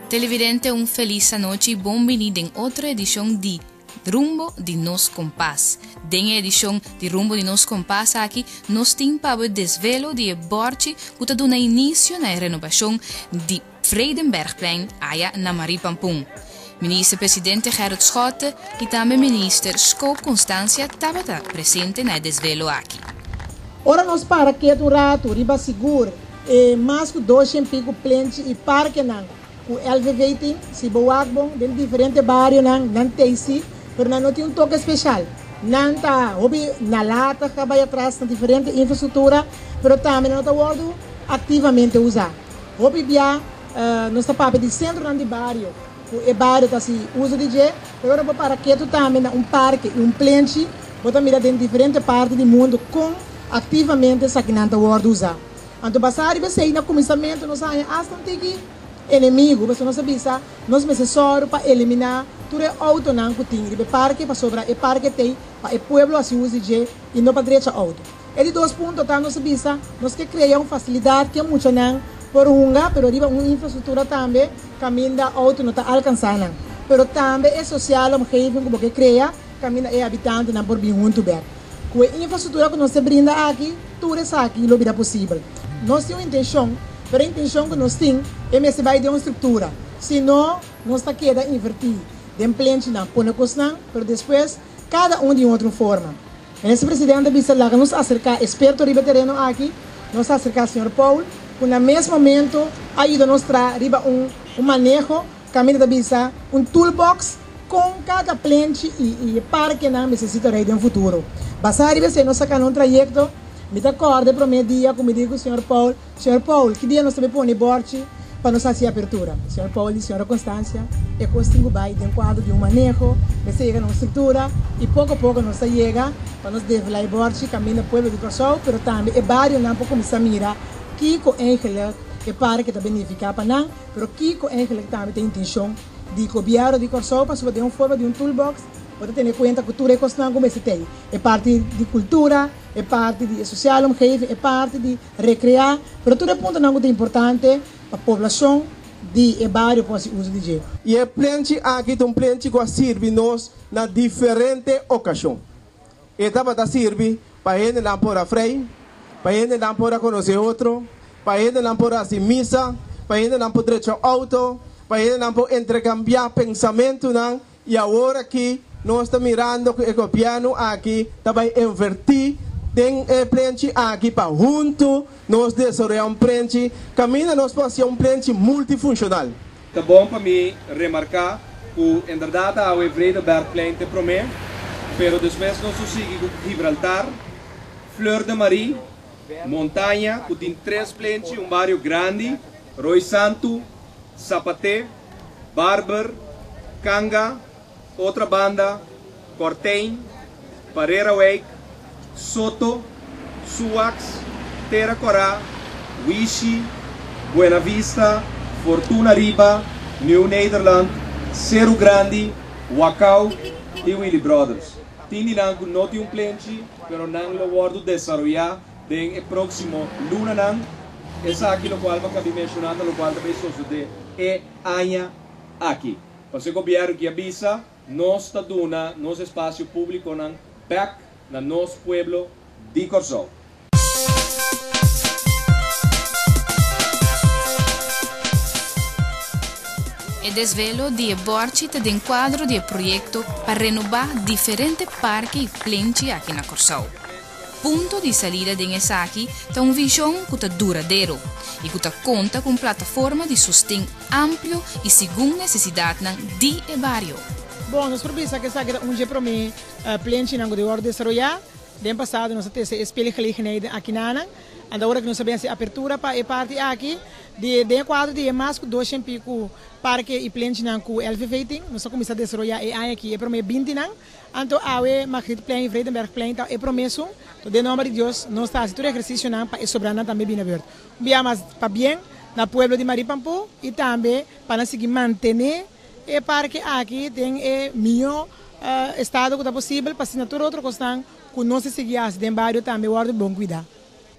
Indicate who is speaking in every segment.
Speaker 1: Televidente un felis anochi y bon bini den otro edicion di Rumbo di nos Kompas. Den e edicion di Rumbo di nos Kompas aki nos tin pa abo e desvelo di e bordchi cu ta duna inicio na e renobacion di Vredenbergplein aya na Marie Pampun. Minister Presidente Gerrit Schotte y tambe Minister Scope Constancia tabata presente na e desvelo aki. Ora nos
Speaker 2: para kiet un ratu riba sigur e mas cu doshent pico plenchi y parkenan cu LVV tin, si bo wak bon den diferente barionan, nan tey si, pero nan no tin un toke special. Nan ta hopi na lata, caba y atras na diferente infrastructura, pero tambe nan no ta wordo activamente usa. Hopi bia nos ta papia di sentronan di bario ku e bario ta hasi uso di dje, pero ora bo para ketu tambe na un parke i un plenchi bo ta mira den diferente parti di mundu kon aktivamente esakinan ta wòrdu usá. Anto basá riba esei na kuminsamentu nos a haña asta un tiki enemigu pasobra nos a bisa nos mester sòru pa eliminá tur e outonan ku tin riba e parke pasobra e parke t'ei pa e pueblo hasi uso di dje i no pa drecha outo. E di dos punto ta nos a bisa nos ke krea un fasilidat ke muchanan por hunga pero riba un infrastruktura tambe kaminda outo no ta alkansá nan. Pero tambe e sosiale omgeving ku bo ke krea kaminda e habitantenan por bin huntu bèk. Ku e infrastruktura ku nos ta brinda aki tur esaki lo bira posibel. Nos tin un intenshon pero e intenshon ku nos tin e mester bai den un struktura si no nos ta keda invertí den plenchi nan pone kosnan pero despues kada un di un otro forma. Minister Presidente a bisa, Laga nos acerca experto riba e tereno aki. Nos a acerca señor Paul, cu na mes momento a yuda nos tra riba un un maneho, caminda ta bisa, un toolbox con cada plenchi y y parkenan mester si ta rey den futuro. Basa riba esey nos a cana un trayecto. Mi ta corde prome dia cu mi dici cu señor Paul, Señor Paul, ki dia nos ta bay pone bòrchi pa nos hasi e apertura? Señor Paul di Señora Constancia, E kos tin ku bay den kuadro di un maneho, mester yega na un struktura, i poko poko nos ta yega pa nos devela e bòrchi kaminda pueblo di Kòrsou, pero tambe e barionan por kuminsá mira kiko eigenlik e parke ta benifiká pa nan, pero kiko eigenlik tambe ta e intenshon di Gobièrnu di Kòrsou, pasobra den un forma di un toolbox bo ta tene kuenta ku tur e kosnan ku mester ta ei, e parti di kultura, e parti di e sosial omgeving, e parti di. Recreá, pero tur e puntonan cu ta importante pa poblacion di e bario por haci uso di dje. Y e plenchi
Speaker 3: aki ta un plenchi cu a sirbi nos na diferente ocacion. E tabata sirbi pa hendenan por a frei, pa hendenan por a conoce otro, pa hendenan por haci misa, pa hendenan por drecha auto, pa hendenan por intercambia pensamentonan I awor aki nos ta mirando ku e gobièrnu aki ta bai invertí den e plenchi aki pa huntu nos desaroyá un plenchi kaminda nos por hasia un plenchi multifunshonal. Ta bon pa
Speaker 4: mi remarká ku inderdat awe Vredebergplein t'e promé, pero despues nos lo sigui ku Gibraltar, Fleur de Marie, Montaña, ku tin tres plenchi, un bario grandi, Rooi Santu, Zapaté, Barber, Kanga, Otra Banda, Kortein, Pareraueik, Soto, Suax, Tera Kora, Wishi, Buena Vista, Fortuna Riba, Nieuw Nederland, Seru Grandi, Wakau i Willy Brothers. Tin di nan ku no tin un plenchi pero nan lo wòrdu desaroyá Den e próksimo lunanan. Esaki lokual bo kabí menshoná ta lokual ta bai sosodé e aña aki. Pasobra gobièrnu kia bisa nos ta duna nos espasio públikonan bèk na nos pueblo di Kòrsou.
Speaker 1: E desvelo di e bòrchi ta den kuadro di e proyekto pa renubá diferente parke i plenchi aki na Kòrsou. Punto di salida den esaki ta un vision cu ta duradero y cu ta conta cu un plataforma di sosten amplio y segun necesidadnan di e bario. Bon, nos por
Speaker 2: bisa cu esaki ta un dje prome plen chinan cu ta wor desaroya. Den pasado nos a tese e speelgelegenheid den akinanan. Anto awor aki nos a bini hasi apertura pa e parti aki. Di e, den e cuadro di e mas cu dosha y pico parke y plenchinan cu LVV tin, nos a cuminsa desaroya e aña aki e prome bintinan. Anto awe Margrietenplein i Vredenbergplein ta e promeso, to den nomber di Dios nos ta haci tur ehercicionan pa e sobranan tambe bini na beurt. Un bia mas pa bien na pueblo di Marie Pampo i tambe pa nan sigui mantene e parke aki den e miho estado cu ta posibel pa asina tur otro cosnan cu nos a sigui haci den bario tambe wordo bon cuida.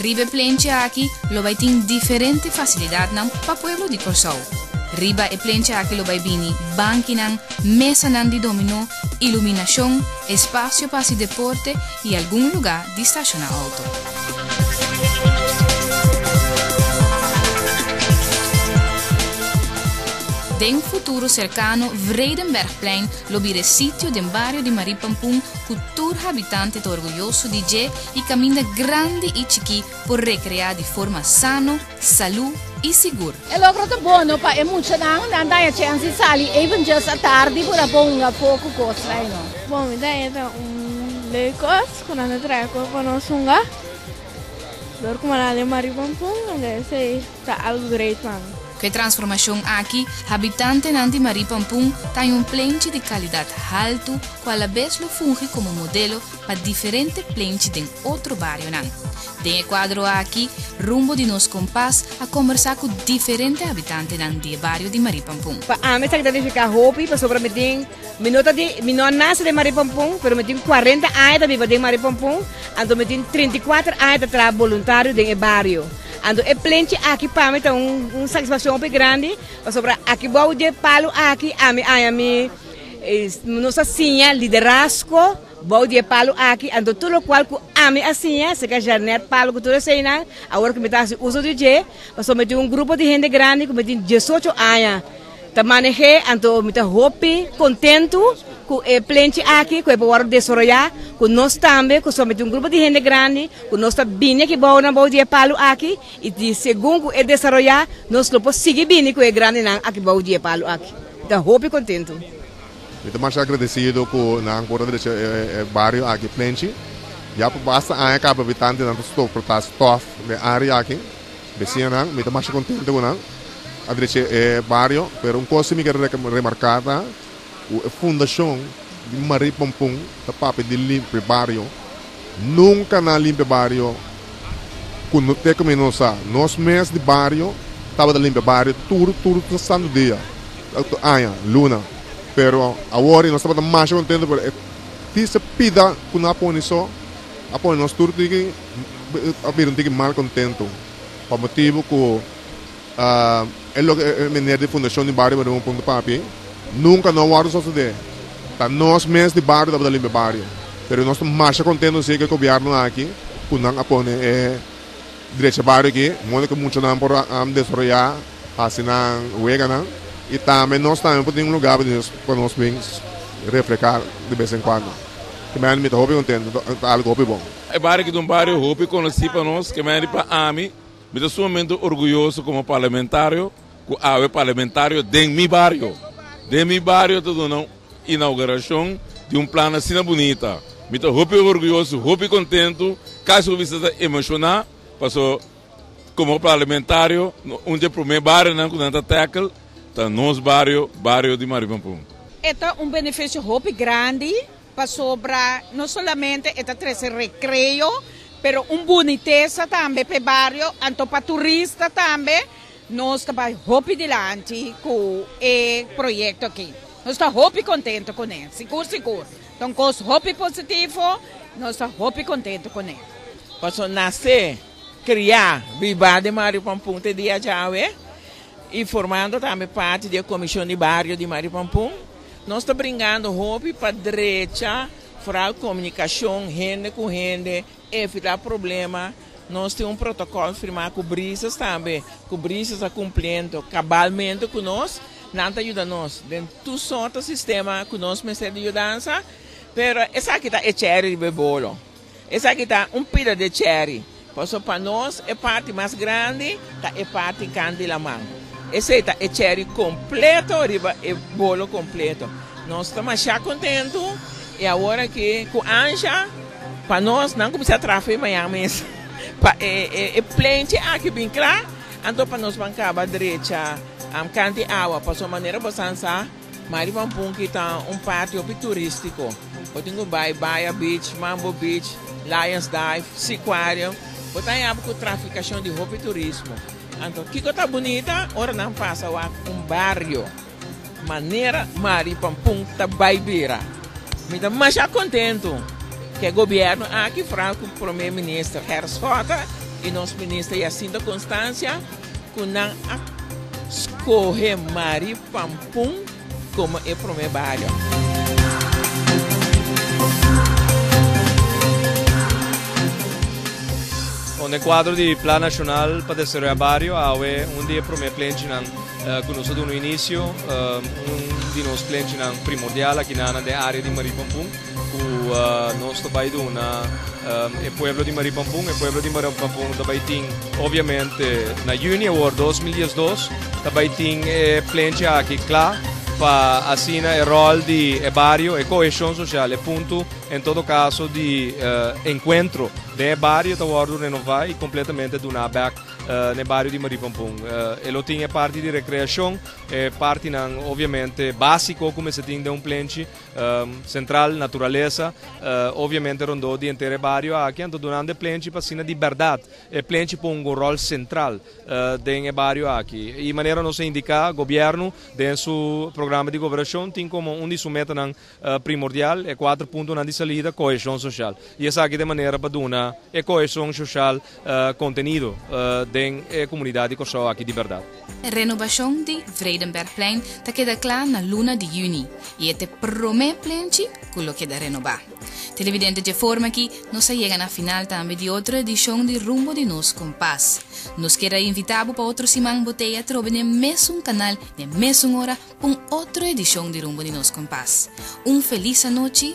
Speaker 5: Riba e plencha
Speaker 1: aki lo bai tin diferente fasilidatnan pa pueblo di Kòrsou. Riba e plencha aki lo bai bini bankinan, mesanan di dominó, iluminashon, espasio pa hasi deporte i algun lugá di stashona outo. Den futuro serkano Vredenbergplein lo bira e sitio den bario di Marie Pampun ku tur habitante ta orguyoso di dje y caminda grandi y chikí por recreá di forma sano, salú y sigur. E logro ta bono
Speaker 6: pa e muchanan, nan ta haci ansi sali even just a tardi por a bonga poco cos lai no. Bo mi ta eta
Speaker 7: un lei cos cu nan ta trae acu pa nos hunga, dor cu mananle mari pampun, lo que sea. ta algu grei pan. Ku e transformashon
Speaker 1: aki, habitantenan di Marie Pampun ta ein un plenchi di kalidat haltu ku alabes lo fungi komo modelo pa diferente plenchi den otro barionan. Den e kuadro aki, Rumbo di nos Kompas a kombersá ku diferente habitantenan di e bario di Marie Pampun. Pa ami ta identifiká
Speaker 8: hopi pasobra mi tin Mi no ta di, mi no a nase den Maripompon, pero mi tin kuarenta aña ta biba den Maripompon, anto mi tin treinta i kuater aña ta traha boluntario den e bario. Anto e plenchi aki pa mi ta un satisfakshon hopi grandi, pasobra aki bou di e palu aki ami aña mi nos a siña liderazgo bou di e palu aki, anto tur lokual ku ami a siña, seka Jeanette Palu ku tur eseinan, awor ku mi ta hasi uso di dje, pasobra mi tin un grupo di hende grandi ku mi tin diesocho aña. Ta maneh'é, anto mi ta hopi kontentu ku e plenchi aki ku e por wòrdu desoroyá, ku nos tambe ku somente un grupo di hende grandi ku nos ta bini aki bou na bou di e palu aki i di segun ku e desaroyá nos lo por sigui bini ku e grandinan aki bou di e palu aki. Mi ta hopi kontentu. Mi ta masha
Speaker 9: agradesido ku nan por ta drecha e bario aki plenchi. Ya pa basta aña kaba bitantenan ta soportá stòf den área aki. Besiñanan, mi ta masha kontente ku nan a drecha e bario, pero un kos ku mi kier remarká ta ku e fundashon di Marie Pompon ta papia di limpia e bario. Nunka nan a limpia e bario ku te ku mi no sa. Nos mes di bario tabata limpia e bario tur tur santu dia, tur aña, luna, pero awor nos tabata masha kontente pasobra e tisa pida ku nan a pone so a pone nos tur tiki. a bira un tiki mal kontentu pa motibu ku e loke e mener di Fundashon di Bario Barun Punto Papi nunka no a wòrdu sosodé. Ta nos mes di bario tabata limpia bario, pero nos ta masha kontentu si ku e gobièrnu aki ku nan a pone e drecha bario aki modo ku muchanan por a desaroyá, hasi nan weganan i tambe nos tambe por tin un lugá pa nos bin refrehá de bes en kuando. Te mira mi ta hopi kontentu, ta algu hopi bon. E bario aki ta un bario
Speaker 10: hopi konosí pa nos, ke mester di pa ami, mi ta sumamente orguyoso komo parlamentario ku awe parlamentario den mi bario. Den mi bario ta duna un inaugurashon di un plan asina bunita. Mi ta hopi orguyoso, hopi kontentu, kasi ku bisa ta emoshoná, paso komo parlamentario un di e promé barionan ku nan ta tackle ta nos bario, bario di Marimapun. E ta un
Speaker 6: benefisio hopi grandi. Pasobra no solamente e ta trece recreo, pero un bunitesa tambe pa e bario, anto pa turista tambe. Nos ta bai hopi dilanti cu e proyecto aki. Nos ta hopi contento cu ne, sigur sigur. Ta un cos hopi positivo, nos ta hopi contento cu ne. Paso nace,
Speaker 11: cria, biba den bario Pampun te dia djawe y formando tambe parti di e Comision di Bario di Bario Pampun. Nos ta bringando hopi pa drecha foral comunicacion hende cu hende, evita problema, nos tin un protocol firma cu Brisas tambe, cu Brisas a cumpliendo cabalmente cu nos, nan ta yuda nos den tur sorta sistema cu nos mester di yudansa, pero esaki ta e cherry riba e bolo. Esaki ta un pida de cherry, paso pa nos e parti mas grandi ta e parti kan di laman. Esei ta e cherry completo riba e bolo completo. Nos ta masha contento y awor aki cu Anja pa nos nan cuminsa trafa e mañan mes pa e e plenchi aki bin cla, anto pa nos ban caba drecha canti awa paso manera bosan sa. Ma riba un punki ta un parti hopi turístiko. Bo tin ku bai Baya Beach, Mambo Beach, Lions Dive, Siquarium. Bo ta yaba ku trafikashon di hopi turismo. Anto kiko ta bunita ora nan pasa wak un bario manera Mari Pampun ta bai bira. Mi ta masha kontentu ku e gobièrnu aki, foral ku Prome Minister Hers Schotten i nos Minister Jacinta Constancia, ku nan a skohe Mari Pampun komo e promé bario.
Speaker 5: Kon e kuadro di Plan Nashonal pa Desaroya Bario awe un di e promé plenchinan ku nos a duna inisio, un di nos plenchinan primordial aki nan na den área di Mari Pampun. ku nos ta bai duna e pueblo di Maripampun. E pueblo di Maripampun ta bai tin, obviamente, na yuni awor 2012, ta bai tin e plenchi aki kla pa asina e rol di e bario, e koheshon sosial, e puntu, en todo kaso, di enkuentro den e bario ta wòrdu renová i kompletamente duná bèk na e bario di Maripampun. E lo tin e parti di rekreashon, e partinan, obviamente, básiko ku mester tin den un plenchi. Sentral, naturalesa, obviamente rondó di enter e bario aki, anto duna nan e plenchi pa asina di bèrdat e plenchi por un ròl sentral den e bario aki. I manera nos a indiká, gobièrnu den su programa di goberashon tin komo un di su metanan primordial, e kuater puntonan di salida, koheshon soshal. I esaki ta e manera pa duna e koheshon soshal. Contenido den e comunidad di Kòrsou aki di berdad. Renobacion
Speaker 1: di Vredenbergplein ta keda cla na luna di juni y e t'e prome plein chi cu lo keda renoba. Televidente dje forma aki nos a yega na final tambe di otro edicion di Rumbo di nos Compas. Nos keda invita bo pa otro siman bo t'e atrobe n'e mesun canal n'e mesun ora p'un otro edicion di Rumbo di nos Compas. Un feliz anochi.